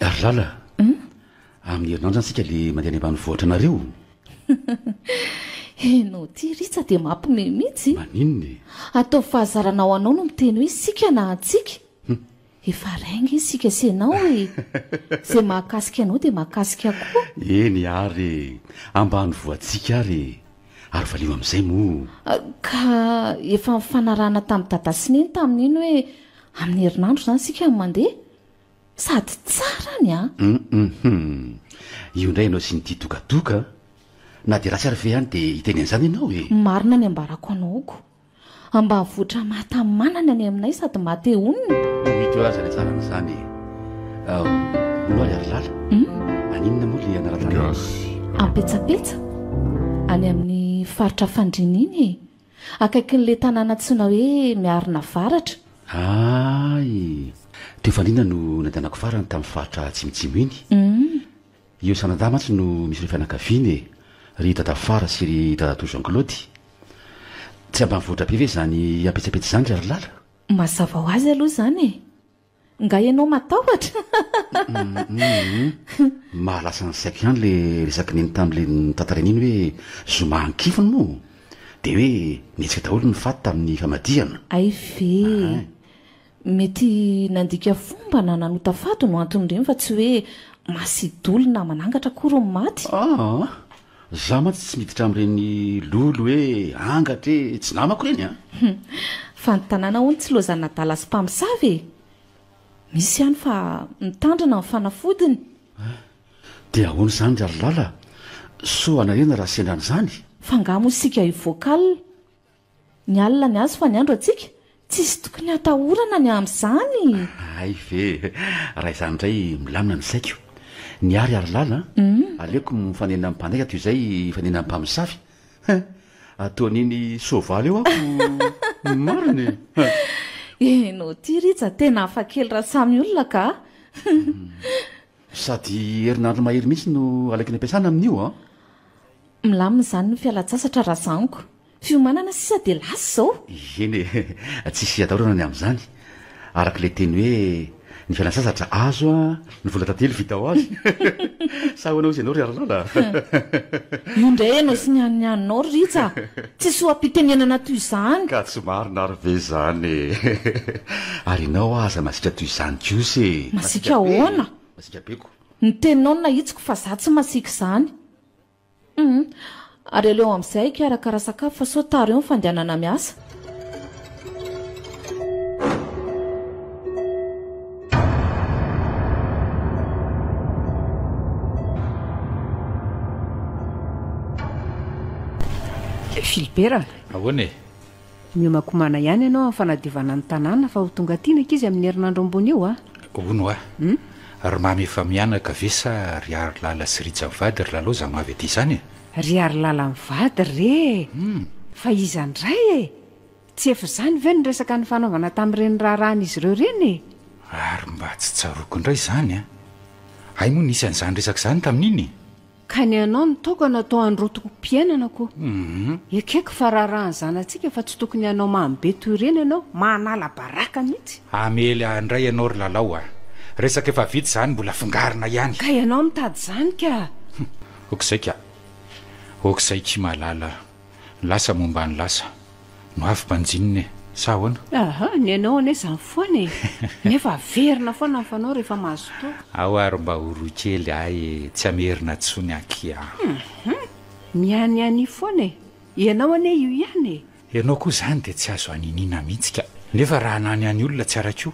Darilala, amin'ny herinandro zany isika le mandeha any ambanivohitra anareo? Enao ity Rija dia mampime mihitsy. Maninona e? Ataovy fahazarana ho anao no miteny hoe isika na antsika. Efa règne isika sy ianao e! Izay mahakasika anao dia mahakasika koa. Eny ary e! Ambanivoantsika ary e! Ary valio amin'izay moa. Ka efa nifanarahana tamin'i Dada sy Neny tamin'iny hoe amin'ny herinandro izany isika no mandeha. Sady tsara ny an! Hum-hum-hum! Io indray ianao sy ny tia togatoga an! Na dia ratsy ary ve any dia hiteny an'izany ianao e! Marina ny ambarako anao ko! Ambanivohitra mahatamanana ny aminay sady mba te honina. Io hit io aza ilay tsara an'izany e. Hono aho ry Alilala, aninona moa ilay anarana anao? Gasy a. Ampetsapetsa, any amin'ny faritra Fandriana iny e. Akaikin'ilay tanàna antsoina hoe Miarina Avaratra. Aay, teo Fandriana no nandehanako farany tamin'ny faritra atsimotsimo iny. Hum. Io Sanadahy mantsy no misy ireo fianakaviany e! Ry Dadafara sy ry Dadatoa Jean Claude. Tsy ambanivohitra be ve izany apetsapetsa izany ry Harilala? Mazava ho azy aloha izany e! Nga ianao matahotra? Mahalasa ny saiko ihany ilay resaky neny tamin'ilay notantarainy iny hoe zoma an-kifiny moa dia hoe nihetsika daholo ny fat tamin'ny famadihana. Hay ve! Mety nandika fomba na nanota fady no anton'ireny fa tsy hoe masidoly na manangatra akory ny maty. Aa! Za mantsy tsy miditra amin'ireny lolo hoe angatra e, tsy namako ireny an! Hum! Fa ny tanàna hono tsy lozan'adala sy mpamosavy e! Misy ihany fa mitandrina ny fanafodiny. Aa! Dia ahoana izany ry Lalilala? Soa anarena raha sendra an'izany? F'angaha moa isika hivoaka alina Ny alina ny azy fa ny andro antsika? Tsisy tokony hatahorana ny amin'izany e! Hay ve! Raha izany indray milamina ny saiko. Niary ary lala an! Aleoko mifanena amin'ny mpandainga toy izay hifanena amin'ny mpamosavy. Hein! Ataon'iny soavaly eo aho no marina e! Ianao ity Rija tena hafa kely raha samy olona ka a! Sady herinandro mahery mihitsy no alaiky ny ampiasana amin'io an! Milamina izany ny fialan-tsasatra razaniko. Fiomanana sisa dia lasa izao. Eny e, tsisy hiatahorana ny amin'izany. Araka ilay teny hoe, ny fialan-tsasatra azo, ny vola tantely vita ho azy. Sa ahoana hozy ianao ry Harilala a? Io indray ianao sy ny an'ny haninao ry Rija a! Tsy soa-pitenenana toy izany. Ka tsy marina ary ve izany e? Ary ianao hoa aza masiaka toy izany kosa e! Masiaka ahoana? Masiaka be ko! Ny teninao no nahitsiko fa izaho tsy masiaka izany. Humm. Ary aleo amin'izay hikarakara sakafo fa sao tara eo ny fandehanana miasa. Philibert a! Ahoana e? Mihomakomana ihany ianao amin'ny fanadiovana ny tanàna fa ho tonga aty ny ankizy amin'ny herinandro ambony io a! Hono a! Ry Mamy efa mianaka ve sa ry Harilala sy Rija mivady ry Lalo za no avy aty izany e! Ry Harilala mivady re e! Fa iza indray e! Tsy efa izany ve ny resaka nifanaovana tamin'ireny raharahan'izy ireo ireny e! Ary mba tsy tsaroako indray izany a! Hay moa nisy an'izany resaka izany tamin'iny e! Ka ny anao no tokana atao androtokom-piainana ko. Ekeko fa raharaha ny zanatsika fa tsy tokony hanao mamy be toy ireny ianao, manala baraka mihitsy. Hamely ahy indray ianao ry Lalao a! Resaka efa vita izany mbola afongarina ihany. Ka ianao mitady izany ka! Hum! Ok zay ka! Ok zay ki malala a! Lasa momba ny lasa no avy mpanjinina e! Sa ahoana? Aha, ny anao anie izany foana e! Nefa averina foana ny fanao rehefa mahazo toaka. Ao ary mba oroy kely ahy e! Tsy hamerina intsony aky an! Hum! Mianiania foana e! Ianao anie io ihany e! Ianao koa izany dia tsy azo haniniana mihitsy ka! Nefa raha hananiany olona tsy ara-ko!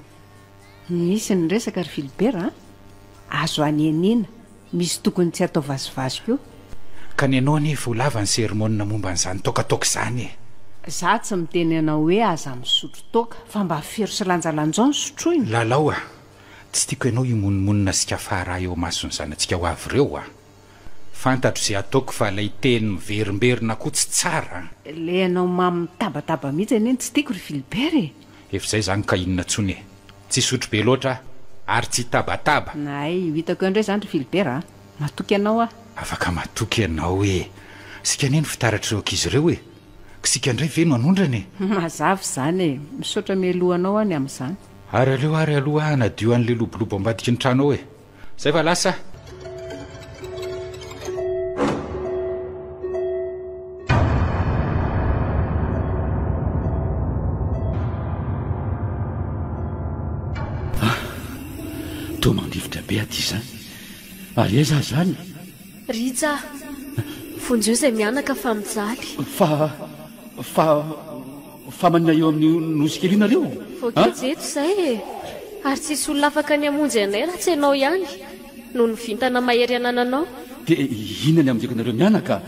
Misy ny resaka ry Philbert a! Azo anenina, misy tokony tsy atao vazivazy koa. Ka ny anao anie efa ho lava ny sermona momba an'izany toakatoaka izany e! Za tsy miteny anao hoe aza misotro toaka, fa mba fero sy lanjalanjao ny sotroina. Lalao a! Tsy tiako ianao himonomonona sy kafara ahy eo amason'ny zanatsika ho avy ireo a! Fantatro ze ataoko fa lay teny miverimberina ko tsy tsara an! Ilay anao mamy mitabataba mihitsy anie no tsy tiako ry Philibert e! Efa izay izany ka inona tsony e! Tsy hisotro be loatra aho ary tsy hitabataba! Hay io hitako eo indray izany ry Philibert a! Matoky anao aho! Afaka matoky ianao e! Isika anie no fitaratr'ireo ankizy ireo e! Isika indray ve no hanondrana e! Mazava izany e! Misaotra mialoha anao aho ny amin'izany! Ary aleo ary aloha aho hanadio an'ilay lobolobo ambadiky ny trano ao e! Zay va lasa? Toa mandifotra be aty izany. Ary aiza aza any? Rija, vonjeo izay mianaka fa mijaly. Fa, fa, fa manina eo amin'io nosy kely io nareo? Voakajy eto izay e! Ary tsy hisy olona afaka ny hamonjy anay raha tsy ianao ihany, noho ny vintana mahery anananao. Dia inona ny hamonjeko anareo mianaka?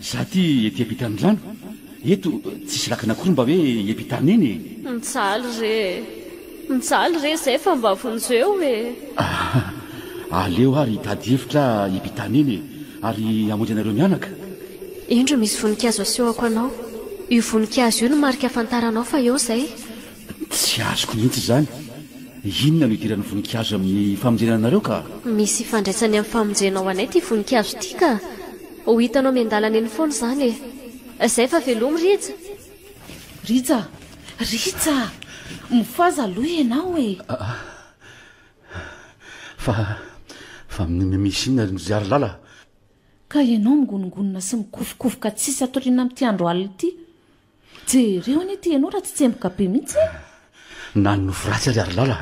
Za ty ety ampitanirano, eto tsisy lakana kory mba hoe iapitany eny e! Mijaly re e! Mijaly re zay fa mba vonjeo e! Ahh! Aleo ary hitady hevitra aho iapitany eny e! Ary hamonjy anareo mianaka! Indro misy voninkazo asehoko anao. Io voninkazo io no marika ahafantaranao fa eo zay. Tsy azoko mihitsy izany. Inona no idiran'ny voninkazo amin'ny famonjena anareo ka? Misy ifandraisany amin'ny famonjena ho anay ity voninkazo ity ka! Ho hitanao miandalana eny foana izany e! Izay fa velomy Rija! Rija! Rija! Mifohaza aloha ianao e! Aa! Fa, fa misy inona ry Nozihary lala? Ka ianao mingonongonona sy mikofokofoka tsisy atoriana amin'ity andro alina ity? Jereo anie ity ianao raha tsy tsemboka be mihitsy e! Nanonofy ratsy ary Harilala.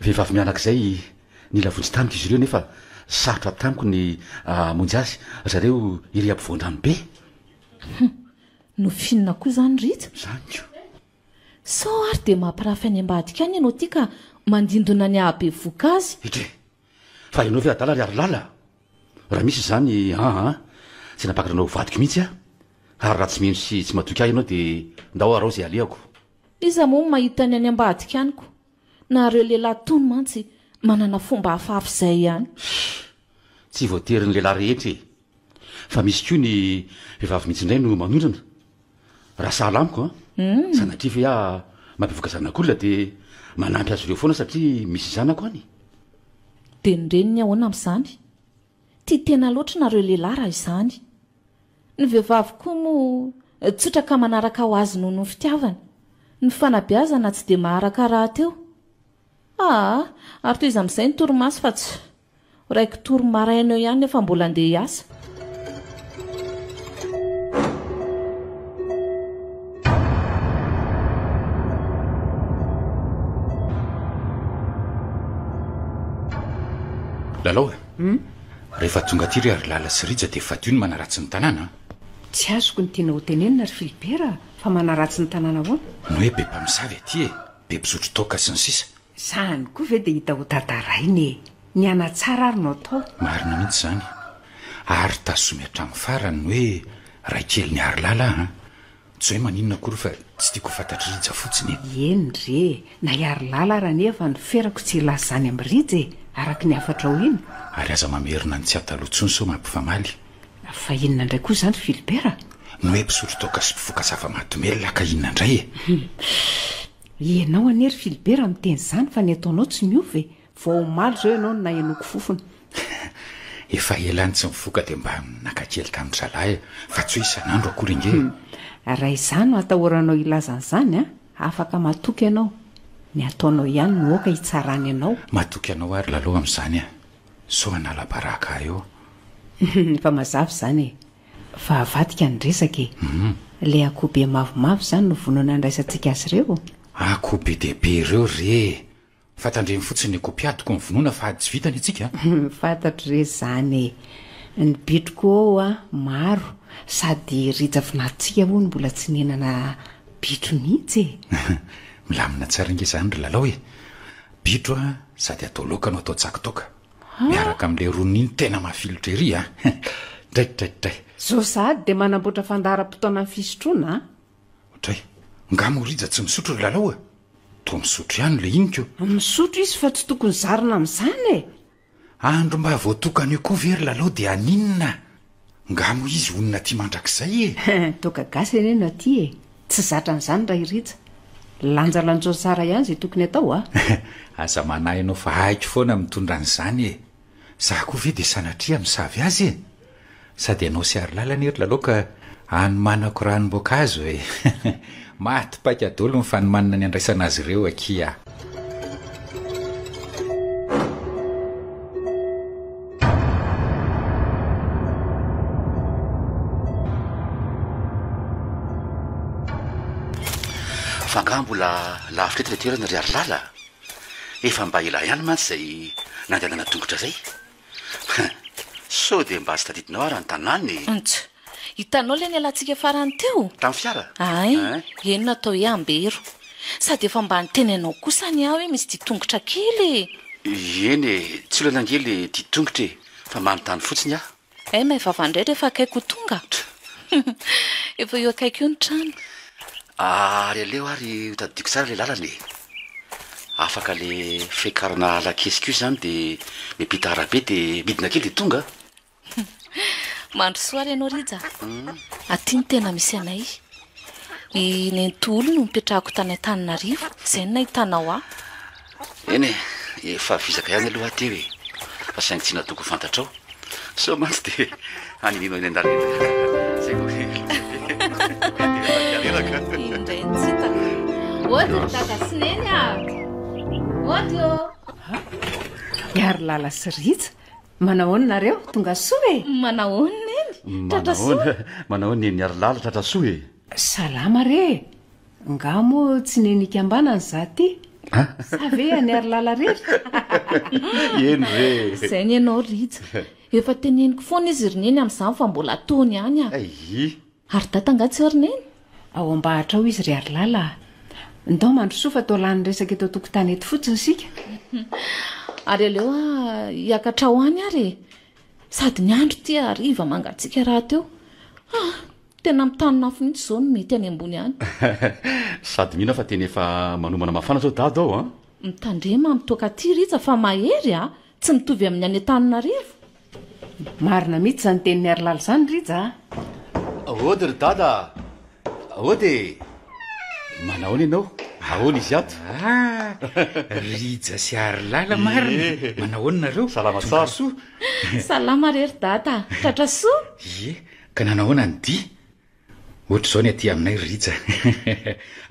Vehivavy mianak'izay nila vonjy tamiko izy ireo nefa sarotra avy tamiko ny hamonjy azy zareo iry ampovoan-drano be. Hum, nofinina koa izany Rija. Izany ko. Sao ary dia mampirafy any ambadika any ianao ity ka mandindona ny hahabevoka azy. Etre! Fa ianao ve adala ry harilala? Raha misy izany aa tsy hanapakatra anao ho vadiko mihitsy aho, ary raha tsy mino sy tsy matoky ahy ianao dia ndao arao izay alehako. Iza moa no mahita ny any ambadika any ko, nahareo lehilahy tony mantsy manana fomba hafahafa izay ihany. Hii, tsy voatery ny lehilahy rehetra e. Fa misy koa ny vehivavy mihitsy indray no manondrana, raha sahala amiko an! Sanatria ve aho mampivoaka zanak'olona dia manampy azy ireo foana satria misy zanako any? Dia ny reniny ahoana amin'izany? Tia tena loatra nareo lehilahy raha izany! Ny vehivavy koa moa tsotra ka manaraka ho azy noho ny fitiavany, ny fanabeazana tsy dia maharaka rahateo! Aa! ary tohiza amin'izay ny torimaso fa tsy. Raiko tory maraina eo ihany nefa mbola andeha hiasa. Lalao e. Hmm? Rehefa tonga aty ry Ary Lala sy Rija dia fadio ny manaratsy ny tanàna. Tsy azoko ny tianao hotenenina ry Filibera fa manaratsy ny tanàna ahoana? Ny hoe be mpamosavy aty e, be mpisotro toaka sy ny sisa. Izany koa ve dia hita ho tantaraina e! Ny hanatsara ary no atao. Marina mihitsy izany. Ary tazomy hatramin'ny farany ny hoe Raikelin'i Harilala an! Tsy hoe maninona akory fa tsy tiako ho fantatr'i Rija fotsiny e! Eny re! Na i Harilala ary anefa no ferako tsy hilaza izany amin'i Rija e! Araka ny hafatrao iny. Ary aza mamerina ny tsy ahy taloha intsony sao mampifamaly. Fa inona indray koa izany ry Philibert? Ny hoe mpisotro toaka sy mpifoka zava-mahadomelina ka inona indray e? Ianao anie ry Philbert miteny izany fa ny ataonao tsy miova e! Vao omaly izao ianao no nahenoako fofona. Efa ela any tsy nifoka dia mba naka kely tamin'ny zalahy aho fa tsy hoe isan'andro akory ange e! Raha izaho no hatahoranao hilaza an'izany an! Afaka matoky ianao. Ny ataonao ihany no aoka hitsarany anao. Matoky anao ary lalao amin'izany an! Sao hanala baraka ahy eo. Efa mazava izany e! Fa avadika ny resaka e! Ilay akoho be mavomavo izany no vonona handraisantsika azy ireo? Akoho be dia be ireo re e! Fa tandremo fotsiny ny akoho mpiady tokony vonona fa ady tsy vitany antsika a! Fantatro re izany e! Ny bitro koa ho'a maro sady rija vinantsika hono mbola tsy nihinana bitro mihitsy e! Milamina tsara ange izany ry Lalao e! Bitro a sady atao laoka no atao tsaky toaka! Miaraka amin'ilay roniny tena mafilotra ery a! Draikidraikidray! Zao sahady dia manamboatra fandaharam-potoana ny fisotroana a! Odray, nga moa Rija tsy misotro ry Lalao e? Toa misotro ihany ilay iniko! Misotro izy fa tsy tokony zarina amin'izany e! Andro mba voatokan'io koa ve ry Lalao dia haninona? Nga moa izy honina aty mandrakizay e! Toaka gasy anie no aty e! Tsy zatra an'izany Ray Rija! Lanjalanjao tsara ihany izay tokony atao a! Aza manahy anao fa haiko foana mitondra an'izany e! Za koa ve dia sanatria misavy azy e! Sady ianao sy Harilala anie ry Lalao ka hanomanako ranom-boankazo e! Maty paika dolo ny fanomanana ny andraisana azy ireo akia. Fa angaha mbola lavitra eto ilay toerana ry harilala a? Efa mba ela ihany mantsy izay nandehanana an-tongotra izay. Sao dia mba tsy tadidinao ary ny tanàna e! Ntsy. Hitanao ilay nialantsika farany teo? Tamin'ny fiara? Ay, eny natao hoe Ambero. Sady efa mba niteny anao koa sa ny ahy hoe misy ditongotra kely e! Eny e, tsy olana ange ilay ditongotra e, fa manontany fotsiny aho. Hay maivava indray rehefa akaiky ho tonga? Efa eo akaiky eo ny trano. Ary aleo ary hotadidiako tsara ilay lalana e. Afaka ilay fiakarana lakiesiko io izany dia miampita arabe dia midina kely dia tonga aho. Mandrosoa ary ianao Rija a. Hum. Aty no tena misy anay. I Nenitoholona no nipetrahako tany Antananarivo, izay no nahitanao ahy. Eny e, efa vizaka ihany aloha aho teo e, fa saingy tsy natoky ho fantatrao, sao mantsy dia haninianao eny an-dalana eny. Izay vao kely. Indray ny tsy hitako. Ody ry dada sy neny a! Ody ô! Miaro lala sy Rija, manahoana nareo? Tonga soa e! Manahoana neny? Tratra soa? Manahoana, manahoana neny Miarolala, tratra soa e! Salama re e! Ngah moa tsy neny ikambanana za ty? Sa ve any Harilala rery? Eny re! Zay ny anao Rija. Efa teneniko foana izy ry Neny amin'izany fa mbola ataony ihany a! Ayy! Ary Dada ngah tsy ao ry Neny? Ao ambahatra ao izy ry Harilala a! Ndao mandrosoa fa toa lany resaka eto an-tokotany eto fotsiny isika. Ary aleo hiakatra ho any ary e! Sady ny andro tia hariva mangatsiaka rahateo. Ah! Tena mitanonafo mihitsy izao ny mety any ambony any. Sady mino aho fa tena efa manomana mafana izao Dado ao an! Mitandrema mitoaka aty Rija fa mahery a! Tsy mitovy amin'ny any Antananarivo. Marina mihitsy izany tenin'i Harilala izany Rija a! Aody ry Dada a! Aody e! Manahoana ianao? Ahoana izy ato? Ah! Rija sy Harilala marina! Manahoana nareo? Salama tsara! Tonga soa! Salama re ry Dada a! Tratra soa? Ie, Ka nanahoana ny dia? Ohatr'izao ny aty aminay ry Rija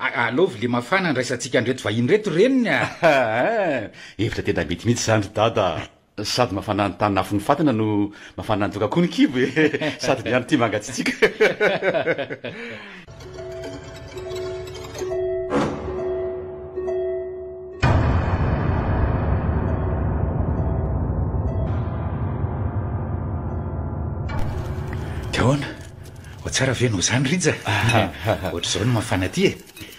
a! Alao vilia mafana andraisantsika an'ireto vahiny ireto reniny a! Ein! Hevitra tena mety mihitsy izany ry Dada a! Sady mafana ny tany nafoin'ny fatina no mafana ny toaka koa ny kibo e! Sady miandry timanga tsy tsiky! tsara ve no zany rija ohatr'izao no mafana aty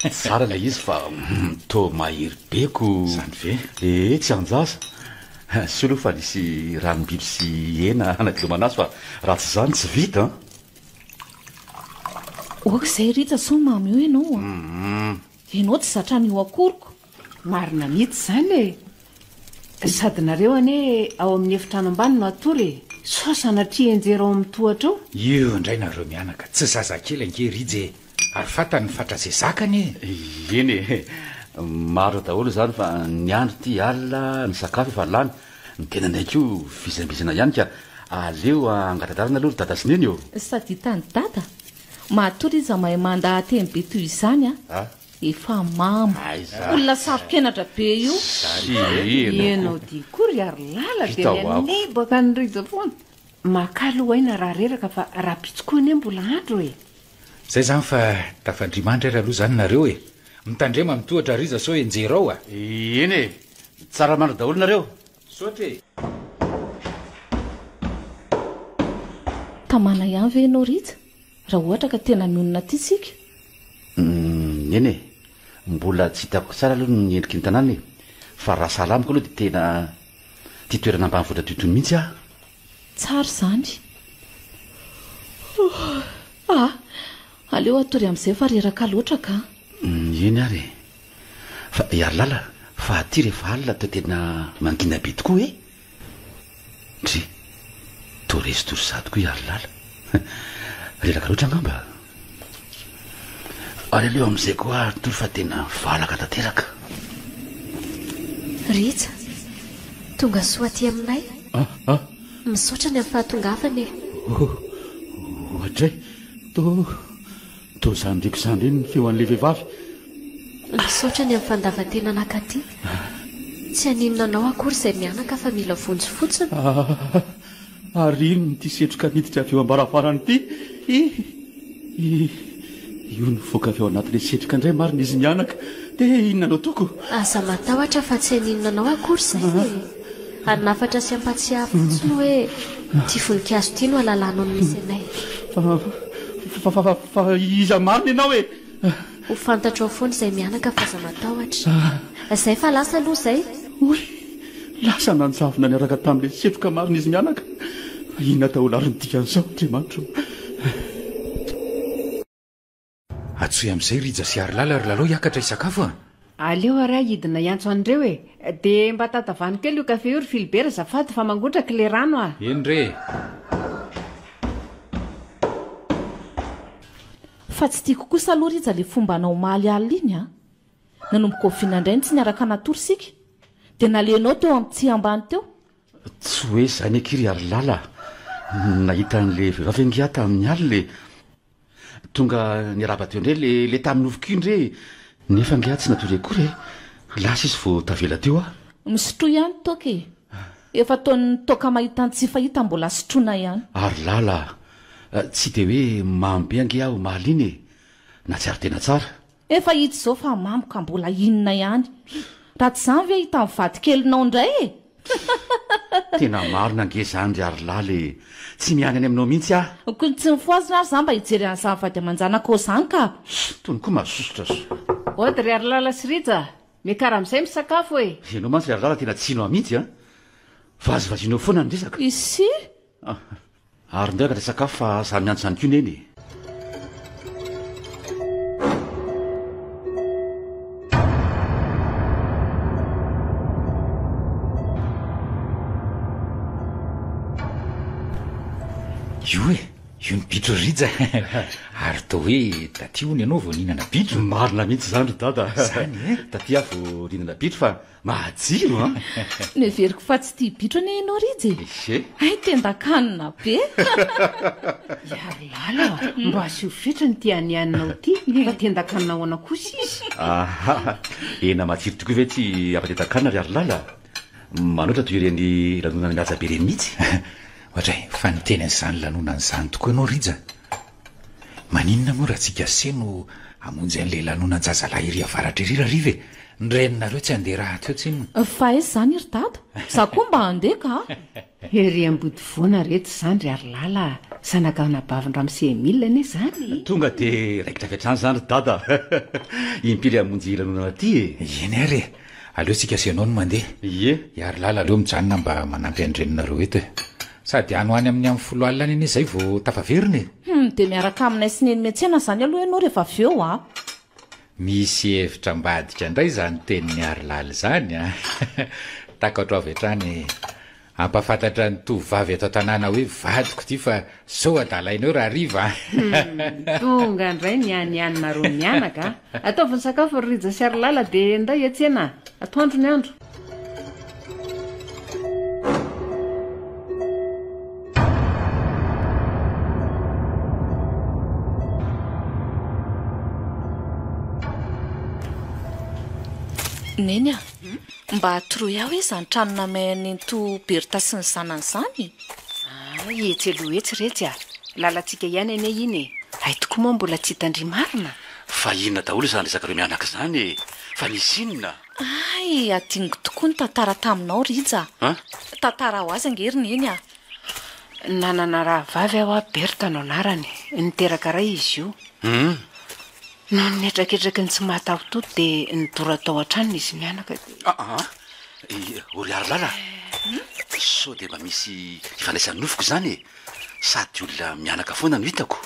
e tsara ilay izy fa mm, to mahery beko zany ve ee eh, tsy anjaza solo fa nisy ranombiby sy hena anaty lomanazy fa raha tsy izany tsy vita Ok zay Rija sao mamy eo ianao a. Ianao tsy zatra an'io akoriko. Marina mihitsy izany e! Sady nareo anie ao amin'ny efitrano ambany no hatory e! Sao sanatria hianjera ao amin'ny tohatra ao? Eo indray nareo mianaka, tsy zazakely ange Rija e! Ary fantany ny fatra izay zakany e! Eny e! Marina daholo izany fa ny andro ity alina, ny sakafo efa lany, ny tenanay koa vizainbizana ihany ka aleo hangata-dalana aloha ry dada sy neny ô! Sady hitan'i dada? Matoa iza mahay mandaha-teny be toy izany a! Efa mamo! Olona saro-kenatra be io! Ianao dia koa ry ary lala dia ny an'i baka any Rija foana! Makalo aina raha reraka fa rahampitso koa anie mbola andro e! Zay zany fa tafandrimandry ary aloha zany nareo e! Mitandrema am tohatra ry iza sao enjery ao a! Eny e! Tsara mandry daholo nareo! Misaotra e! Tamana ihany ve ianao Rija raha ohatra ka tena mionona aty tsika? Umm eny e! Mbola tsy hitako tsara aloha ny endriky ny tanàna e! Fa raha sahala amiko aloha dia tena tia toerana ambanivohitra toy itony mihitsy aho! Tsara izany. Ah, aleo hatory amin'izay fa reraka loatra ka. Eny ary e. Fa i Harilala fa aty rehefa alina dia tena mangina be tokoa e. Ndry. Toa resy tory sahady koa i Harilala. Reraka loatra angamba. Aleo amin'izay koa ary tory fa tena valaka tanteraka. Rija, tonga soa aty aminay. Ah, ah. Misaotra ny amin'ny fahatongavana e. Oh, ohatray, toa, toa zandriko zandry iny ny feon'ilay vehivavy. Misaotra ny amin'ny fandavan-tena naka aty. Tsy haninona anao akory izay mianaka fa mila vonjy fotsiny. Ah, ah, ah. Ary inona ity setroka niditra avy eo am-baravarana ity? Hihi! Hihi! Io nivoaka avy ao anatin'ilay setroka indray marina izy mianaka. Dia inona no ataoko? Aza matahotra fa tsy haninona anao akory izay e! Ary ny hafatra sy ampahatsiahy fotsiny hoe ity voninkazo ity no halalanao ny misy anay. Fa, fa, fa, fa iza marina ianao e? Ho fantatrao foana izay mianaka fa aza matahotra. Izay fa lasa aloha izay. Hoy, Lasa nanjavona niaraka tamin'ilay setroka marina izy mianaka. Fa inona daholo ary ny dikan'izao, Andriamanitra ô! Atsoy amin'izay Rija sy Harilala ry Lalao hiakatra hisakafo a! Aleo ary aho hidina hiantso an'ireo e! De mba tatavano kely io kafe io ry Philibert azafady fa mangotraka ilay rano a! Eny re! Fa tsy tiako kosa aloha Rija le fomba anao omaly alina iny a! Nanomboka oviana indray no tsy niaraka natory isika? Dia naleonao teo amin'ny tsihy ambany teo? Tsy hoe izany akia ry Harilala a! Nahita an'ilay vehivavy ange aho tamin'ny alina e! Tonga niarahaba teo indray ilay tamin'ny nofiko iny re! Nefa ange aho tsy natory akory e! Lasa izy vao tavela teo aho. Misotroa ihany toaka e! Efa ataon'ny toaka mahita ny tsy fahita mbola sotroina ihany. Ary lala a! Tsy dia hoe mamy be ange aho mahaliana e! Nahatsiaro tena tsara. Efa hita izao fa mamy ka mbola inona ihany. Raha tsy izany ve hitan'ny vadikelinao indray e! Tena marina ange izany ry ary lala e! Tsy miany any aminao mihitsy aho. Kony tsy nifohazina ary izaho mba hijery an'izany vady aman-janakao izany ka! Tony koa mazosotra so. Ody ry ary lala sy rija a! Miakara amizay misakafo e. Ianao mantsy ry Ralala tena tsy nao mihitsy an! Vazivazinao foana ny resaka. Isyy. Ary ndray ka resaka hafa fa za miantso ihany koa Neny e. Io e! Io ny bitro ry Rija ary toa hoe taty hono ianao vao nihinana bitro. Marina mihitsy izany ry Dada. Izany e! Taty aho vao nihinana bitro fa mahajiro an! Noheveriko fa tsy tia bitro anie ianao Rija e! Ehe! Hay tendan-kanina be! Hiaro lala a! Mba asio fetra ny tianianinao ity fa tendan-kanina ahoana kosa izy? Aha! Hena matsiro tokoa ve ity ampatendan-kanina ry Harilala? Manoatra toy ireny lanonana mihaja be ireny mihitsy! Ohatray fa niteny an'izany lanonana izany tokoa ianao Rija. Maninona moa raha tsy Gasy no hamonjy an'ilay lanonan-jazalahy ery avaratra ery Rariva e? Ny reninareo tsy handeha rahateo tsinona. Fa aiza izany ry dada? Za koa mba handeha ka a! Ery Ambodivoana reto izany ry Harilala a! Zanak'anabavin'Ramose Emile anie izany e! Tonga dia raikitra avy hatrany izany ry dada a! Impiry hamonjy lanonana aty e! Eny ary e! Aleo tsika sy ianao no mandeha. Ie. I Harilala aleo mijanona mba manampy an'i reninareo eto e. Sady any ho any amin'ny amin'ny folo alina any anie izay vao tafaverina e. Humm, dia miaraka aminay sy neny miantsena izany aloha ianao rehefa avy eo a. Misy hevitra ambadika indray izany tenin'i Harilala izany a. Takatro avy hatrany e. Ampafantatra ny tovovavy ato an-tanàna hoe vadiko ity fa sao adalainao raha hariva an! Humm, tonga indray ny an'i Anne Maroon mianaka a! Ataovy ny sakafo ry Rija sy Harilala dia ndao hiatsena a! Atoandro ny andro. Neny a! Mba atoroy ahy hoe izany trano namaihan'ny nenitoa Bertha sy ny zanany izany e! Aa etsy aloha etsy retsy a! Lalantsika ihany anie iny e! Hay tokoa moa mbola tsy hitan-dry marina? Fa inona daholo izany ry zakareo mianaka izany e! Fa nisy inona? Hay hadinoko tokoa ny tantara taminao Rija a! Tantara ho azy ange ry Neny a! Nanana rahavavy aho a! Bertha no anarany. Niteraka iray izy io. Hum! Noho ny hetraketraky ny tsy mahatahototo dia nidora tao an-tranony izy mianaka dia. Aa! I Oriarilala a! Sao dia mba misy ifandraisan'ny nofiko izany e! Sady olona mianaka foana no hitako.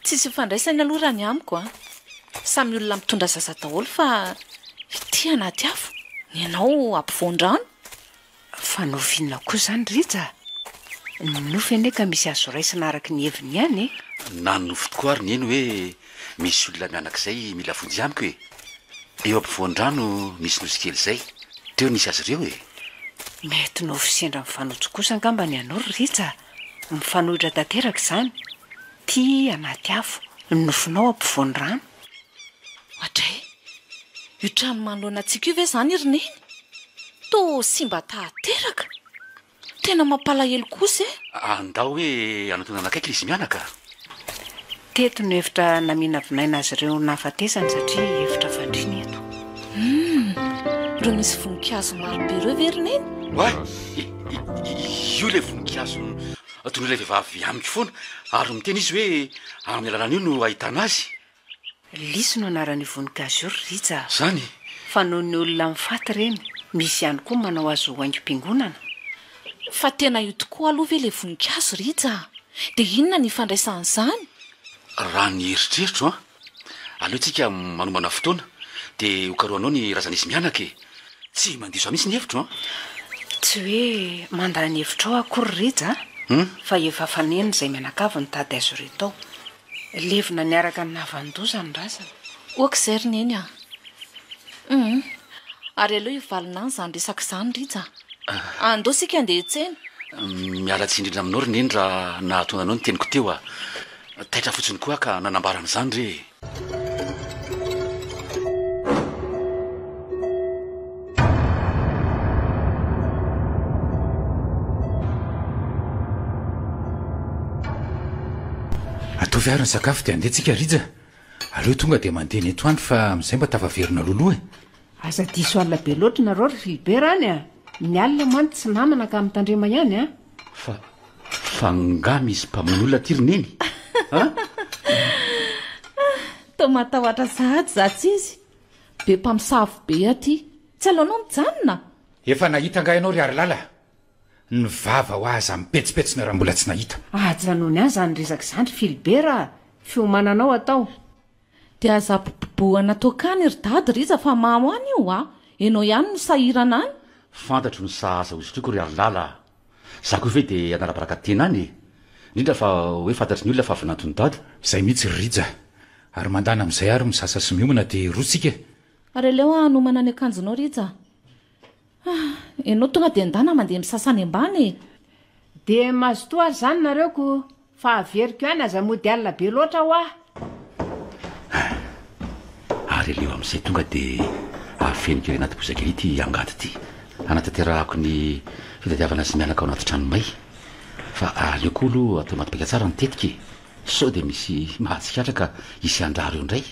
Tsisy ifandraisany aloha raha ny amiko a! Samy olona mitondra zaza daholo fa ity anaty afo ny anao ampovoan-drano? Fa nofy inona koa izany Rija? Ny nofy anie ka misy azo raisina araka ny heviny ihany e! Na ny nofy tokoa ary neny hoe misy olona mianak'izay mila vonjy amiko e! Eo ampovoan-drano misy nosy kely izay, teo nisy azy ireo e! Mety nofy sendra mifanojo kosa angamba ny anao ry Rija a! Mifanohitra tanteraka izany, tia anaty afo, ny nofinao ampovoan-drano. Oadray! Io trano manoloana antsika io ve izany ry Neny? Toa simba tahateraka! Tena mampalahelo kosa e! Andao hoe hanotonana akaiky izy mianaka. Teto no efitra naminavinaina azy ireo nahafatesany satria efitra fandriana eto. Humm! Ireo misy voninkazo marobe ireo ve ry Neny? Oay! Io ilay voninkazo Toy ny ilay vehivavy amiko foana, ary miteny izy hoe amin'ny alalan'io no ahitana azy. Lisy no anaran'io voninkazo io ry Rija a! Izany? Fa noho ny olona mifaty ireny, misy ihany koa manao azy ho haingom-piangonana? Fa tena io tokoa aloha ve ilay voninkazo Rija a? Dia inona ny ifandraisan'izany? Raha ny eritreritro an! Aleo tsika manomana fotoana de ho karohanao ny razana izy mianaka e! Tsy mandiso ahy mihitsy ny hevitro an! Tsy hoe mandany hevitrao akory Rija a! Hum? Fa efa faneno izay mianakavy nitady azy ireo tao. Levona niaraka ny navan-doza ny razana. Ok izay ry Neny a! Hum! Ary aleo hivalona any izany resaka izany Rija a! Andao isika handeha hiantsena! Miala tsiny indrindra aminao ry Neny raha nahatona anao ny teniko teo a! Taitra fotsiny koa aho ka nanambara an'izany re e! Ataovy ary ny sakafo dia handeha tsika Rija. Aleo tonga dia mandeha ny etoany fa amin'izay mba tafaverina loloha e! Aza diso alina be loatra nareo ry Philbert any a! Ny alina mantsy tsy namana ka mitandrema ihany a! Fa fa nga misy mpamono olona aty ry neny a! Toa matahoatra sahady za tsy izy! Be mpamosavy be aty! Tsy aleonao mijanona? Efa nahita nga ianao ry harilala? Ny vava hoa aza mipetsipetsina raha mbola tsy nahita! Ajanony any zany resaka zany ry Philbert a! Fiomananao atao! De aza bobobohana tokany ry dady ry iza fa mamo any io a! Enao ihany no sahirana any. Fantatro ny sahaza hozotriko ry ary lala a! Za ko ve de hanarabaraka tena any e! Indrindra fa hoe fantatry ny olona fa vinanton'i dada. Zay mihitsy ry rija! Ary mandana amizay ary misasa sy miomana de roa tsika e! Ary aleo hanomana ny akanjonao rija a! Ah, ianao tonga dia ndana mandeha misasa any ambany e! Dia mazotoa ary izany nareo ko fa averiko ihany aza mody alina be loatra hoa! Ah, ary aleo amin'izay tonga dia afeniko ery anaty bozaka ery ity angady ity hanatanterahako ny fitadiavana sy mianaka ao anaty trano may. Fa aleo koa aloha atao anaty paika tsara ny tetika e! Sao dia misy mahatsikaritra ka hisy handrary eo indray?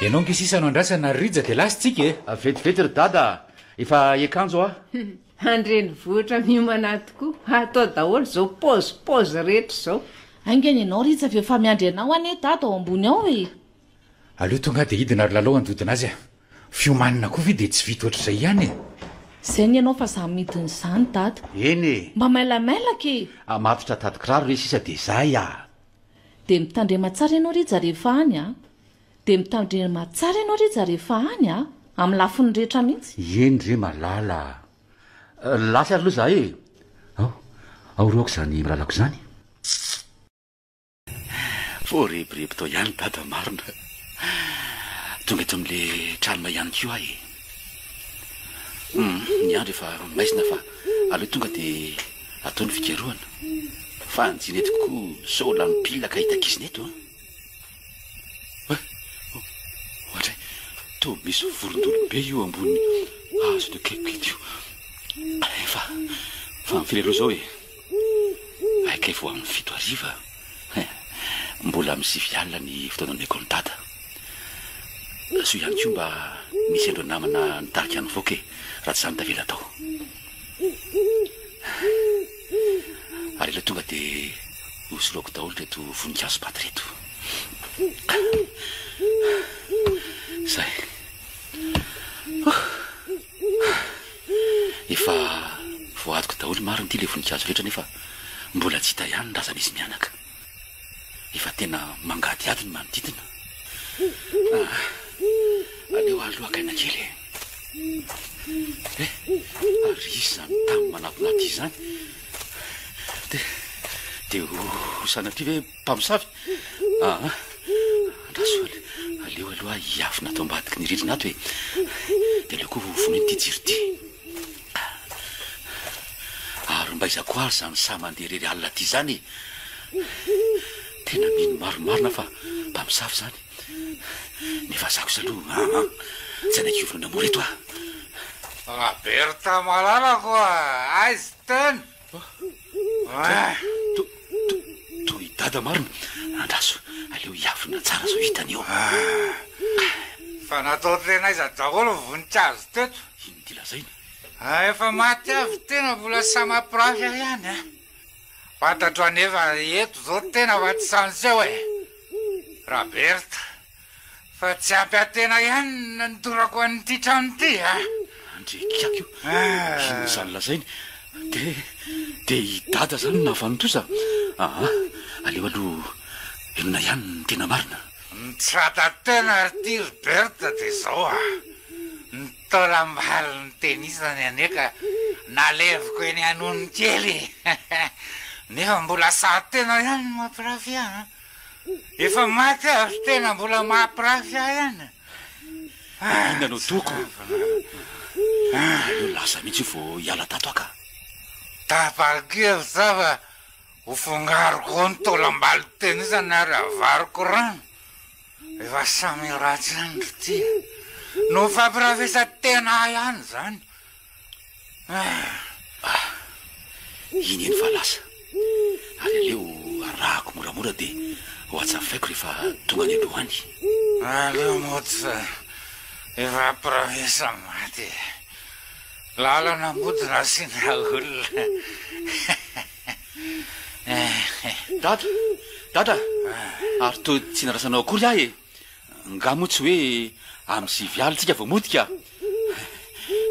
Ianao nge sisa no andrasana Rija dia lasa tsika e! Vetivety ry Dada a! Efa hiakanjo aho. An-drenivohitra miomana tokoa fa atao daholo izao pause pause rehetra izao. Haingana ianao Rija fa efa miandry anao anie Dada ao ambony ao e! Aleo tonga dia hidina ry Lalao handodona azy a! Fiomanana koa ve dia tsy vita ohatr'izay ihany e! Zay ny anao fa za midiny zany dada. Eny e! Mba mailamailaka e! Ah matotra tady kiraro re sisa dia zay ah! Dia mitandrema tsara ianao Rija rehefa any ah! Dia mitandrema tsara ianao Rija rehefa any ah! Amin'ny lafiny rehetra mihitsy. Eny re malala ah! Lasa ary aloha za e! Ao, ao ry aoka izany milalako izany. Voarebireby tao ihany dada marina. Tonga eto amin'le tranonay ihany koa aho e. Hmm, ny andro efa maizina fa aleo tonga dia atao ny fikarohana. Fa anjina eto koa sao lany pile ka hitakizina eto an. Eh? Ohatra, toa misy vorondolobe io ambony hazo ito akaiky ito. Efa, fa mifiry aloha izao e. Haikay vao amin'ny fito hariva a! Mbola amin'ny sivy alina ny fotoanan'ny école dada. Soa ihany koa mba nisy ireo namana nitarika an'i Voka e! Raha tsy izany tavela tao. Ary aleo tonga dia hosoloako daholo ireto voninkazo paty ireto. Zay. Efa voadiko daholo marina ity le voninkazo rehetra nefa mbola tsy hita ihany ny razana izy mianaka. Efa tena mangadihady ny manodidina. Ah, aleo ary lohakaina kely e. Eh, ary izany tany manapinaty izany. Dia dia ho sanatria ve Mpamosavy? Aa, andraso aleo aloha hiafina ato ambadiky ny rindrina ato e. Dia aleo koa ho vonoina ity jiro ity. Ary mba iza koa ary izany sahy mandeha irery alina ity izany e. Tena mino marimarina fa mpamosavy izany. Nefa za kosa aloha, aa, tsy hanaiky hiorina mora eto aho. Raberta malalako a! Aiza tena? Toy i dada marina. Andraso, aleo hiavona tsara zao hitany eo. Fa natao tena aiza daholo ny voninkazo teto? Inona ity lazaina? Ah, efa maty avy tena mbola samy mampirafy ahy ihany a. Fantatro anefa eto zao tena fa tsy Sanseo e. Raberta. Fa tsy ampy antena ihany no nandorako an'ity trano ity a! Andry kiaka io, inona izany lazainy? Dia, dia i Dada izany no nahavanon-toza? Aa, aleo aloha henona ihany ny tena marina. Mitsata tena ary ity ry Berthe dia izao a! Ny taolam-bary notenisany anie ka naleviko eny anonony kely e! Nefa mbola saha tena ihany no mampirafy an! Efa maty aho tena mbola mahampirafy ahy any. Inona no toko? Eo lasa mihitsy io vao hiala tato aho ka. Tapa-kevitra aho fa ho fongariko ao ny taolam-balon-tenisany ary havariko rano. Efa samy ratsy ihany ry tia. Nofampirafesan-tena ahy ihany izany. Ah, iny eny fa lasa. Ary aleo arahako moramora dia ho atsafaiko rehefa tonga any aloha any. Aleo mots efa promesa maty e. Lalana mody nasiana olona. Dada, dada, ary toa tsy narasanao akory ahy e. Nga moa tsy hoe amin'ny sivy alina tsika vao motika?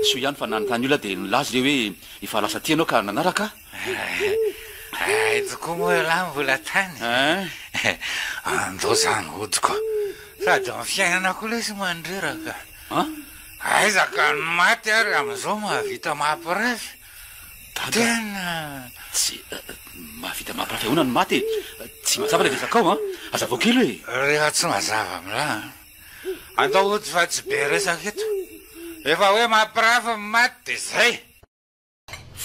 Soa ihany fa nanontany olona dia nilaza ireo hoe efa lasa aty ianao ka nanaraka ahy. Hay tokoa moa ialahy mbola tany e! Andao izany hodiko. Sady amin'ny fiainana koa lesy mandreraka. Aiza ka ny maty ary amin'izao mahavita mampiresy. Dada. Tena tsy mahavita mampirafy ahoana ny maty e. Tsy mazava ilay resakao an. Hazavao kely hoe. Rehefa tsy mazava amin'la an. Andao ody fa tsy be resaka eto. Efa hoe mampirafy ny maty dia izay.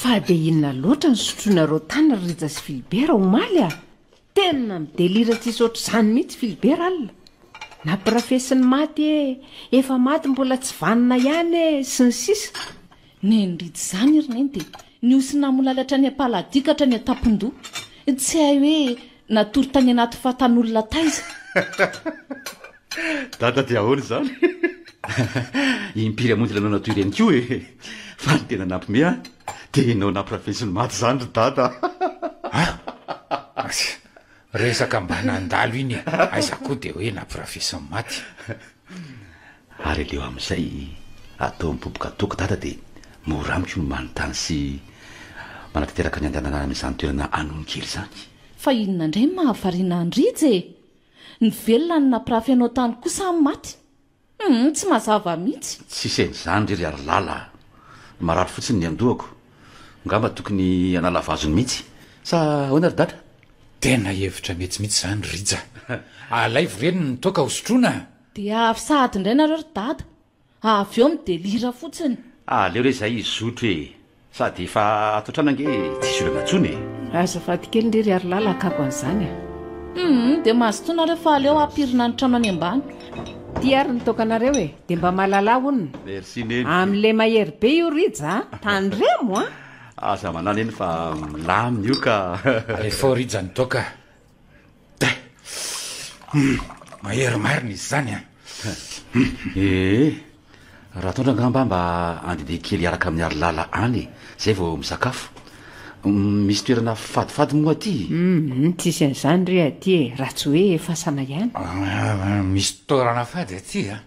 Fa dia inona loatra no sotroinareo tany ry Rija sy Philibert omaly a? Tena midelira tsisy ohatr'izany mihitsy Philbert alina. Nampirafesin'ny maty ee, efa maty mbola tsy vanona ihany ee, sy ny sisa. Nendritsy izany ry Neny dia nihosy namolaly hatrany am-paladia ka hatrany an-tampon-doha. Tsy hay hoe natory tany anaty fatan'olona taiza. Dada dia ahoana izany? Impiry hamonjy ilay nanao toy ireny koa e! Fa ny tena nampiomehy ahy dia ianao nampirafesy ny maty izany ry Dada! Aza! Resaka mba nandalo iny e! Aiza koa dia hoe nampirafesy ny maty! Ary aleo amin'izay atao mipopoka toaka Dada dia mora amiko ny manontany sy manatanteraka ny handehanana amin'izany toerana Anonokely izany! Fa inona indray no mahavariana an'i Rija e! Ny velona no nampirafy anao tany kosa ny maty? Humm tsy mazava mihitsy. Tsy hisaina izany re ry harilala a! Marary fotsiny ny an-dohako. Ngamba tokony hanala vazony mihitsy. Sa ahoana ry dada? Tena hevitra mety mihitsy izany Rija. Alaivo re ny toaka hosotroina! Dia avy sahady indray nareo ry dada. Avy eo midelira fotsiny. Ah aleo re zay hizotro e! Sady efa ato an-trano ange tsisy olana tsony e! Azafady kely ndry ry Harilala hakako an'izany a! Humm dia mazotoa nareo fa aleo hampirina ny trano any ambany. Ty ary ny tokanareo e! Dia mba malalà hono! Merci Neny! Amin'ilay mahery be io Rija a! Tandremo a! Aza manà Neny fa milamina io ka! Alefao Rija ny toaka! Mahery marina izy izany an! Ee, Ratoandro angamba mba andehandeha kely hiaraka amin'i Harilala any e, izay vao misakafo. Misy toerana fadifady moa aty? Tsisy an'izany re aty e, raha tsy hoe fasana ihany. Misy toerana fady aty an!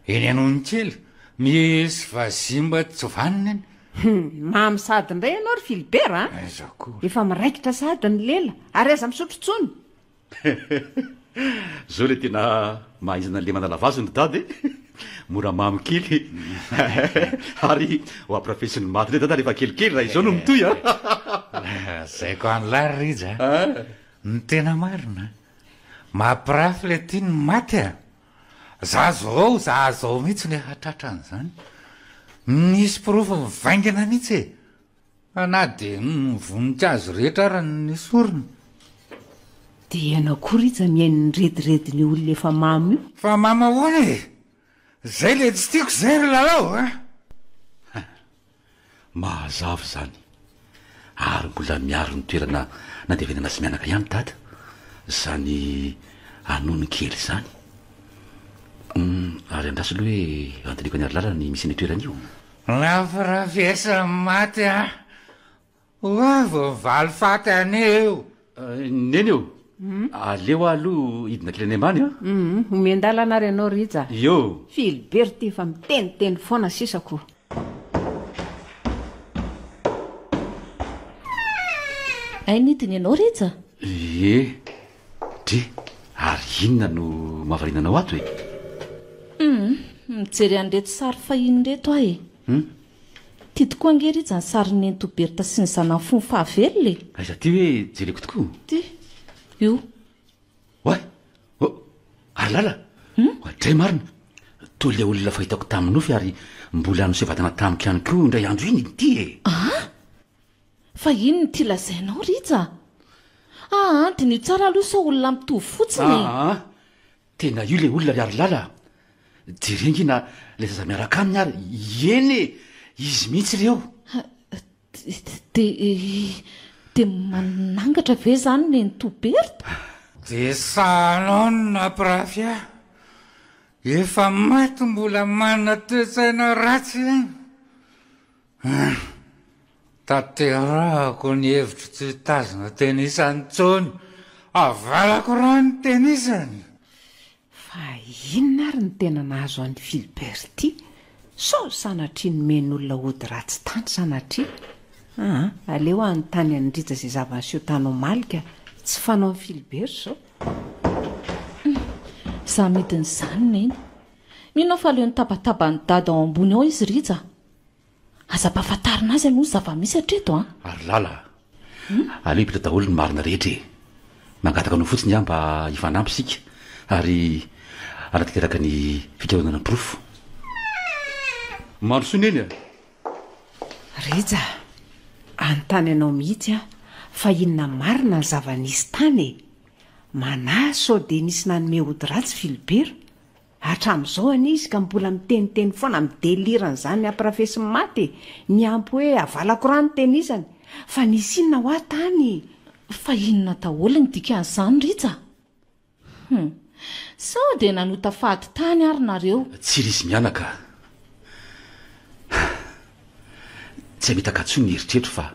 Eny Anonokely, misy vazimba tsy vanona eny. Hum, mamy sahady indray ianao ry Philibert a! Aiza koa ry. Efa miraikitra sahady ny lela, ary aza misotro intsony! Zao ilay tena mahaizana lemana lavazo ny dada e! Mora mamy kely ary ho ampirafesin'ny maty indray dada rehefa kelikely raha izao no mitohy a! Lazaiko an'lah ry Rija a! Ny tena marina, mampirafy ilay tia ny maty a! Za zao, za zao mihitsy le hahatratra an'izany. Misy porofo mivaingana mihitsy e! Fa na dia ny voninkazo rehetra ary no nesorina. Dia ianao koa Rija mihaino ny rediredin'io olona efa mamo io? Fa mamo ahoana e! Zay le tsy tiako zay ry Lalao a! Mahazava izany. Ary mbola miaro ny toerana nandevenana sy mianaka ihany Dada izany anony kely izany. Humm, ary andraso aloha hoe andinihiko an'i Harilala ny misian'io toerana io. Nampirafesan'i Maty an! Ho'a vao mivaly faty anie eo. Neny ô! aleo aho aloha hidina kely any ambany an! Humm! omen-dalana ary ianao Rija! Iô! Philbert efa miteniteny foana sisa ko! Hay nidina ianao Rija? Ie! Dry! ary inona no mahavariana anao ato e? Humm! mijery an'ireto sary fahiny ireto aho e! Humm! Ty tokoa ange ry iza ny sarin'i Nenitoa Bertha sy ny zanany fony fahavelona e! Aiza ty hoe jereko tokoa? Ty io. Oay! Oh! Ary lala! Oadray marina! Toa ilay olona fahitako tamin'ny nofy ary mbola niseho vatana tamiko ihany koa indray andro iny ity e! Aa! Fa inona ity lazainao ry iza? Aa! Diniho tsara aloha sao olona mitovy fotsiny e! Aa! Tena io le olona ry harilala a! Jereo ange na le zaza miaraka aminy ary, ieny e! Izy mihitsy re io! Dia manangatra ve izany nenitoa Bertha? Dia sahanona mpirafy a! Efa maty mbola manana toe-tsaina ratsy iany! Tanterahako ny hevitro tsy hitazona tenisa intsony. Avalako raha ny tenisa an! Fa inona ary no tena nahazo an'i Philbert ity? Sao sanatria nomen'olona ody ratsy tany sanatria? Aa, aleo hanontany an'i Rija izay zava-niseho tany omaly ka! Tsy fanao an'i Philbert izao. Za midin'izany Neny. Mino aho fa leo nitabataba an'i Dada ao ambony ao izy Rija. Aza ampahafantarina azy aloha ny zava-misy hatreto an! Ary lala a! Aleo hipeta daholo ny marina rehetra e! Mangataka anao fotsiny aho mba hifanampy isika ary hanatanteraka ny fikaonana porofo. Mandrosoa Neny a! Rija a! Anontany anao mihitsy aho fa inona marina ny zava-nisy tany e! Manahy sao dia nisy nanome ody ratsy Philibert? Hatramin'izao anie izy ka mbola miteniteny foana amin'ny délire an'izany ampirafesin'i Maty e! Niampy hoe havalako rà ny tenisany! Fa nisy inona hoa tany? Fa inona daholo ny dikan'izany Rija? Hum. Sao dia nanota fady tany ary nareo? Tsy rizy mianaka a! Tsy hamitaka intsony ny eritreritro fa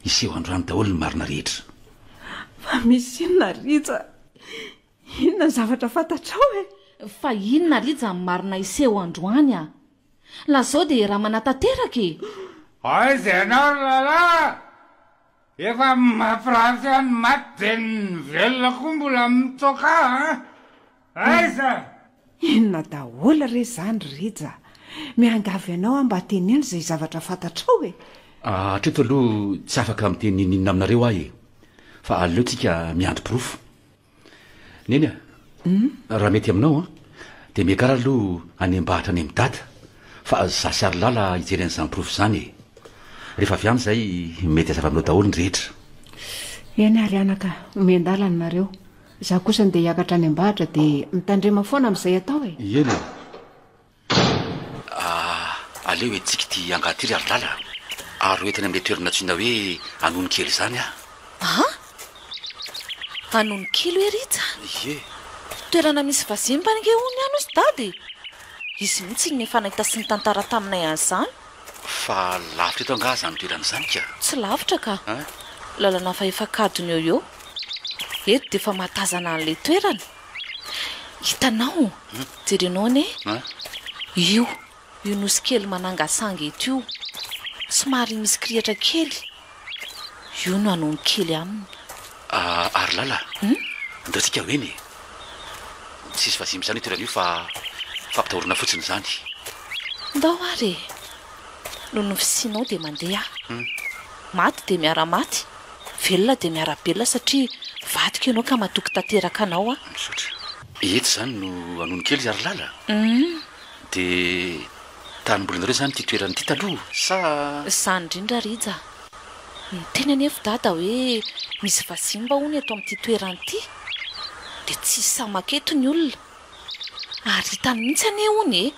hiseho androany daholo ny marina rehetra. Fa misy inona Rija? Inona ny zavatra fantatrao e? Fa inona ary ija ny marina hiseho androany a? Lazao dia raha manatanteraka e! Aiza ianao ry Lala? Efa mampiratsy ahy ny maty dia ny velona koa mbola mitoka an! Aiza? Inona daholo re izany ry Rija? Miangavy anao aho mba teneno izay zavatra fantatrao e! Hatreto aloha tsy afaka miteny n'inona aminareo aho e! Fa aleontsika miandry porofo. Neny a! raha mety aminao an! dia miakara aloha hanembahatra any amin'i Dada fa za sy Harilala hijery an'izany porofo izany e! rehefa avy any izay mety hazava aminao daholo ny rehetra. Eny ary anaka, omeo an-dalana nareo, za kosa ndeha hiakatra hanembahatra dia mitandrema foana amin'izay atao e! Eny e! Pff! Aleo entintsika ity angah ity ry Harilala ary ho entina amin'ilay toerana nantsoina hoe Anonikely izany aho. An! Anonikely hoe Rija? Ie. Toerana misy vazimba ange hono ihany hozy Dada e! Izy mihitsy no efa nahita sy nitantara taminay an'izany. Fa lavitra eto angaha izany toerana izany ka? Tsy lavitra ka. Lalana fahefankadiny eo ho eo. Eto dia efa mahatazana an'ilay toerana. Hitanao? Jerenao anie. Io, io nosy kely manangasanga eto io, somary misy kirihitra kely, io no anon'ny kely aminy. Ary lala, andao tsika ho eny e! Tsisy vazimba izany io toerana io fa fampitahorana fotsiny izany. Ndao ary e! noho ny fisianao dia mandeha aho. Maty dia miara-maty, velona dia miara-belona satria vadiko ianao ka matoky tanteraka anao aho. Misaotra. Eto izany no anony kely ry Harilala? Humm. Dia tany mbolinareo izany ity toerana ity taloha sa? Izany indrindra Rija. Niteny anefa Dada hoe misy vazimba hono eto amin'ity toerana ity. Dia tsy hisy samaka eto ny olona. Ary hitany mihitsy anie hono e!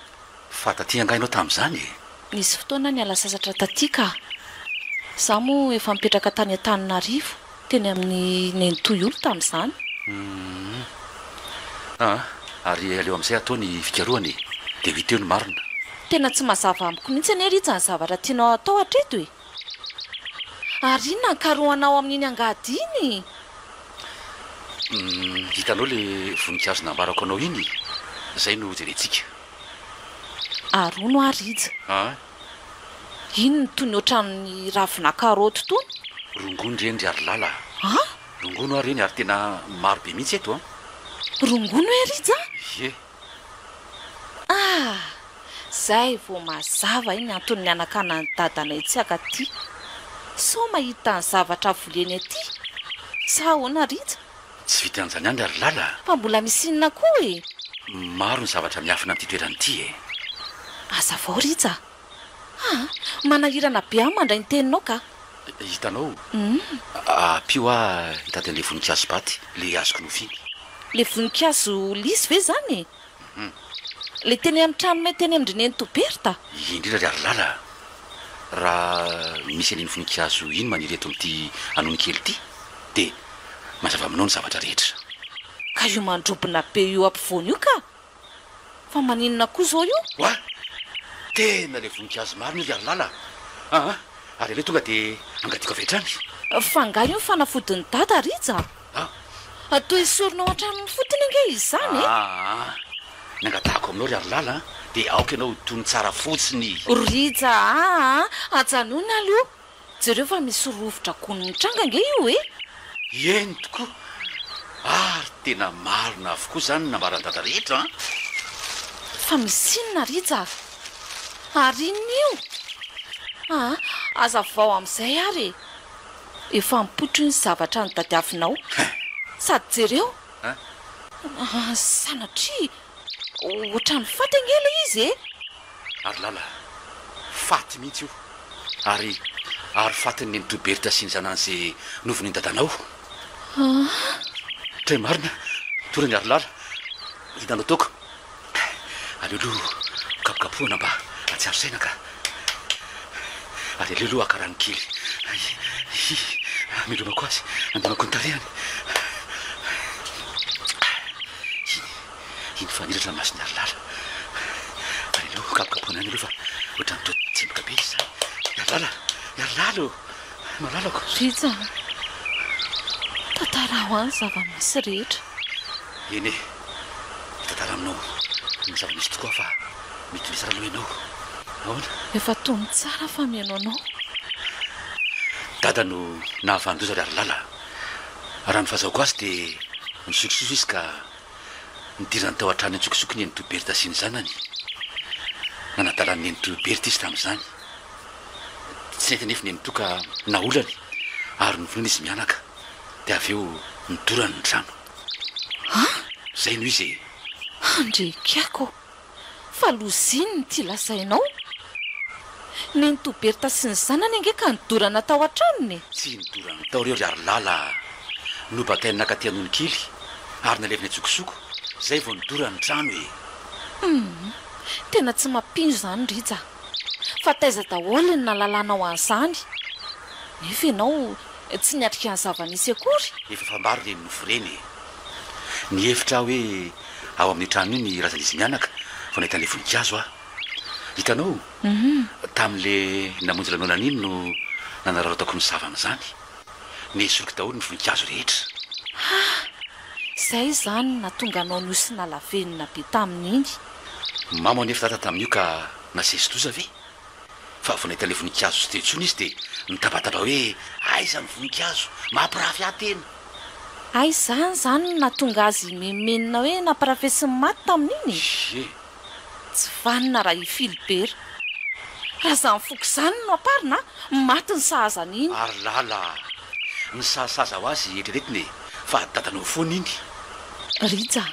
Fa taty angaha ianao tamin'izany e? Nisy fotoana niala sasatra taty ka. Izaho moa efa nipetraka tany Antananarivo, teny amin'ny nenitoy-olo tamin'izany. Humm. Aa. Ary aleo amin'izay atao ny fikarohana e. Dia ho hita eo ny marina. Tena tsy mazava amiko mihitsy anie Rija ny zavatra tianao hatao hatreto e. Ary inona ankarohanao amin'iny angady iny? Hitanao ilay voninkazo nambarako anao iny e? Izay no hojerentsika. Arono ary hija. Aa. Iny no toy ny ohatran'ny ravina karaoty tony. Rongony ireny ry Harilala a! An? Rongony ho'a ireny ary tena maro be mihitsy eto an! Rongony hoe ry hija? Ie. Ah! Zay vao mazava ny antony nianakana an'i dadanay tsy haka aty. Sao mahita ny zavatra voleny aty? Sa ahoana Rija? Tsy vitan'izany andra ry Lala a! Fa mbola misy inona koa e? Maro ny zavatra miafina amin'ity toerana ity e! Hazavao Rija a! Ha! Manahirana be aho mandray ny teninao ka! Hitanao, ampio aho hitady an'ilay voninkazo baty, ilay azoko nofiny. Ilay voninkazo lisy ve izany e? Ilay teny amin'ny tranonay teny amin-dry Nenitoa Bertha? Ie indrindra ry Harilala a! Raha misy an'iny voninkazo iny maniry eto amin'ity anony kely ity, dia mazava aminao ny zavatra rehetra. Ka io mandrobona be eo ampovoany io ka! Fa maninona koa zao io? Wa! Tena le voninkazo marina io ry Harilala a! Aa! Ary aleo tonga dia angadiako avy hatrany. Fa angaha io ny fanafodin'i Dada Rija? Aa! Toa esorinao hatramin'ny fotony ange izany e! Aa! Ny angatahako aminao ry Harilala dia aoka ianao ho tony tsara fotsiny. Rija aa! Ajanony aloha! Jereo fa misy rovitra gony mitranga ange io e! Eny tokoa, ary tena marina avokoa izany ny nambaran-dada rehetra an! Fa misy inona ry Java? Ary inona io? Aa, hazavao amin'izay ary e! Efa mipotro ny zavatra notadiavinao. Sady jereo! Aa, sanatria! Ohatran'ny faty ange ilay izy e! Ary lala, faty mihitsy io. Ary, ary fatin'ny nenitoa Bertha sy ny zanany ze novonoin'i dadanao. An! Tena marina, tory angaha ry lala, hitanao toaka. Aleo aloha kapokapohina mba hahatsiaro saina ka. Ary aleo aloha haka rano kely. Hihi, amelomako azy, andinako ny tarehiny. Iny, iny fa niratra ny mason'i Harilala. Ary aleo hokapokapohina any aloha fa ohatran'ny toa tsemboka be izy izany. I Harilala, i Harilala ô! Malalako. Rija a! Tantaraho ahy ny zava-misy rehetra. Eny e, hitantara aminao ny zava-misy tokoa aho fa Mety misy raha nomenao. Ahoana? Efa tony tsara fa mihaino anao. Dada no nahafahan-doza ry Harilala. Raha ny fahazahoako azy dia nisotrosotra izy ka nidirany tao an-trano an-tsokosoko ny nenitoa Bertha sy ny zanany. Nanadala ny nenitoa Bertha izy tamin'izany. Tsy nety anefa ny nenitoa ka naolany ary novonoina izy mianaka. Dia avy eo nidorany ny trano. Ha? Izay no izy e! Handrekako! Fa lozin ity lazainao. Nenitoa Bertha sy ny zanany ange ka nidorana tao an-tranony e! Tsy nidorana tao ireo ry Harilala a! Nobakainy nakaty Anonikely ary naleviny an-tsokosoko, zay vao nidorany ny trano e! Hum! Tena tsy mampino izany Rija! Fa taiza daholo ny nahalalanao an'izany? Nefa ianao tsy niatrika ny zava-nisy akory! Efa fambaro ireny nofo ireny e! Nihevitra aho hoe ao amin'io trano io ny razan'izy mianaka vao nahita an'ilay voninkazo aho. Hitanao, tamin'ilay namonjy lanonana iny no nanararaotako ny savan'izany. Nesoriko daholo ny voninkazo rehetra. Ha! Izay izany no nahatonga anao nosinalavenona be tamin'iny. Mamo anefa Tata tamin'io ka nasesi-doza ve? Fa vao nahita ilay voninkazo tsy teo intsony izy dia nitabataba hoe, Aiza ny voninkazo? Mampirafy ahy tena! Hay izany izany no nahatonga azy himenomenona hoe nampirafesin'ny maty tamin'iny e! Ie! Tsy vanona raha i Filibera. Raha izany foko izany no amparina an! Maty ny sahaza an'iny! Ary lala! Nisahasaza ho azy eritreretina e! Fa dadanao foana iny! Rija!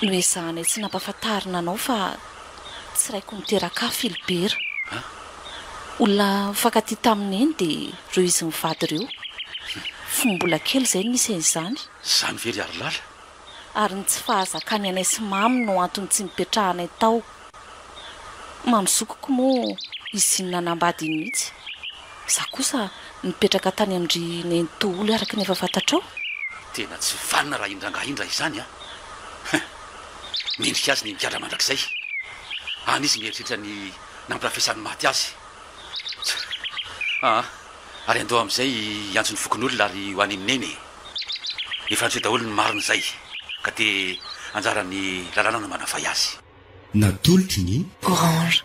Noezahanay tsy nampafantarina anao fa. Tsy raiko niteraka ahy Filibera. Olona nifankatia tamin'i Neny dia ireo izy mivady ireo. Fony mbola kely izay no nisy an'izany. Izany ve ry Harilala? Ary ny tsy fahazakan'ny anay sy Mamy no antony tsy nipetrahanay tao. Mamy zokiko moa izy iny nanambady iny mihitsy. Izaho kosa nipetraka tany amin-dry Neny Toholy araka ny efa fantatrao. Tena tsy vanona raha indrangaha indra izany an! Mendrika azy ny migadra mandrakizay. Any izy mieritreritra ny nampirafesan'ny maty azy. Aa! ary andao amin'izay hiantso ny fokonolona ary ho any amin'i Neny e! Efa antsoy daholo ny marina izay ka dia anjaran'ny lalàna ny manavay azy. Natolotry ny. Orange.